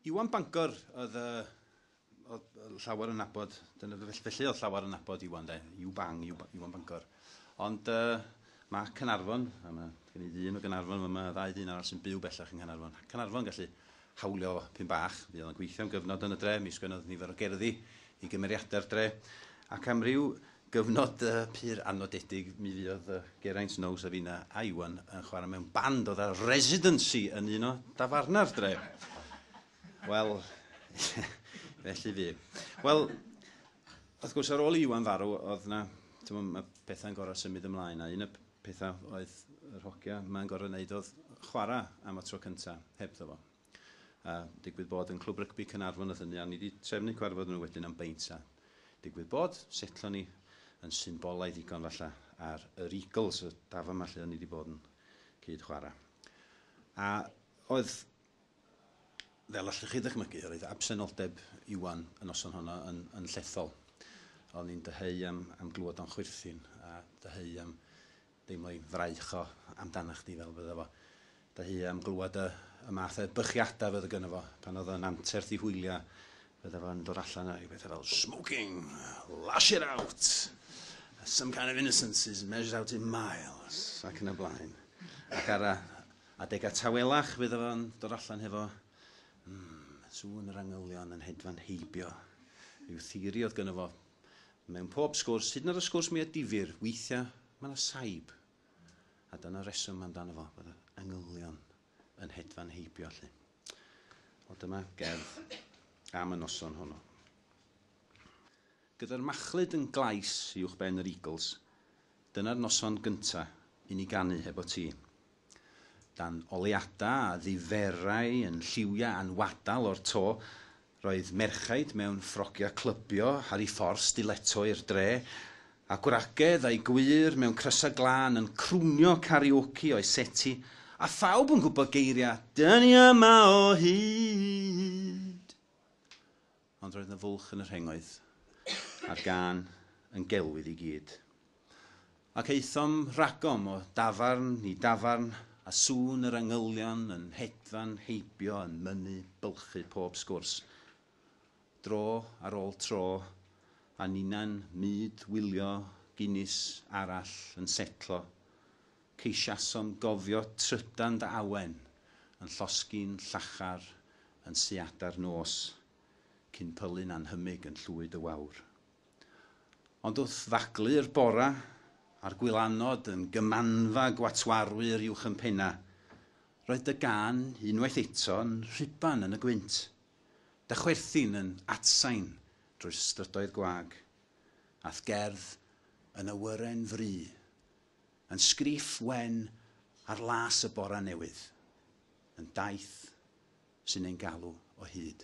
Iwan Bangor oedd y... oedd llawer yn nabod, dyna felly oedd llawer yn nabod Iwan de, Iw Bang, Iwan Bangor. Ond uh, mae Cynarfon, a mae gen i ddyn o Gynarfon, mae yma ddau ddyn arall sy'n byw bellach yng Nghanarfon. Cynarfon gallu hawlio pyn bach, fi oedd yn gweithio am gyfnod yn y dre, mi sgwennodd nifer o gerddi i gymeriadau'r dre, ac am ryw Gyfnod pur a nodedig mi fuodd Geraint Now, Safina a Iwan yn chwarae mewn band oedd â residency yn un o dafarna'r dre. Wel, felly fu. Wel, wrth gwrs, ar ôl i Iwan farw, oedd yna, mae pethau'n gorau symud ymlaen, a un y pethau oedd yr hogia mae'n gorau wneud oedd chwarae am y tro cyntaf hebddo fo. a digwydd bod yn Clwb Rygbi Caernarfon oedd hynny, a ni wedi trefnu cyfarfod nhw wedyn am beint, a digwydd bod, setlo ni yn symbolaidd ddigon falle ar yr Eagles, y dafa yma lle o'n ni wedi bod yn cyd chwarae. A oedd, fel allwch chi ddychmygu, yr oedd absenoldeb Iwan y noson honno yn, yn llethol. O'n ni'n dyheu am, am glywed o'n chwyrthin, a dyheu am Deimlo ei fraich o amdanach chdi fel fydda fo dy hu am glywad y y math o edbychiada fydda gynno fo pan o'dd o'n anterth i hwylio fydda fo'n dod allan a ryw betha fel smoking, lash it out, some kind of innocence is measured out in miles ac yn y blaen. Ac ar y adega tawelach fydda fo'n dod allan hefo mm, sŵn yr angylion yn hedfan heibio. Ryw theori o'dd gynno fo Mewn pob sgwrs, hyd yn oed y sgwrs mwya difyr, weithiau mae yna saib. A dyna reswm amdano fo, bod y engylion yn hedfan heibio allu. Wel dyma gerdd am y noson honno. Gyda'r machlud yn glais uwch ben yr Eagles, dyna'r noson gynta i ni ganu heb o ti. Dan oleuadau a ddiferai yn lliwiau anwadal o'r to, roedd merchaid mewn ffrogiau clybio ar eu ffordd stiletto i'r dre, a gwragedd a'u gwyr mewn crysau glân yn crwnio karaoke o'u seti, a phawb yn gwybod geiriau 'Dyn ni yma o hyd! Ond roedd 'na fwlch yn y rhengoedd, a'r gân yn gelwydd i gyd. Ac aethom ragom o dafarn i dafarn, a sŵn yr angylion yn hedfan heibio yn mynnu bylchu pob sgwrs. Dro ar ôl tro, a ninnau'n myd wylio Guinness arall yn setlo, Ceisiasom gofio trydan dy awen yn llosgi'n llachar yn siada'r nos, cyn pylu'n anhymyg yn llwyd y wawr. Ond wrth ddaglu'r bora, a'r gwylanod yn gymanfa gwatwarwyr uwch yn penna, roedd dy gân unwaith eto yn rhuban yn y gwynt, dy chwerthin yn atsain drwy'r strydoedd gwag, a'th gerdd yn awyren fry Yn sgriff wen ar las y bora newydd, yn daith sy'n ein galw o hyd.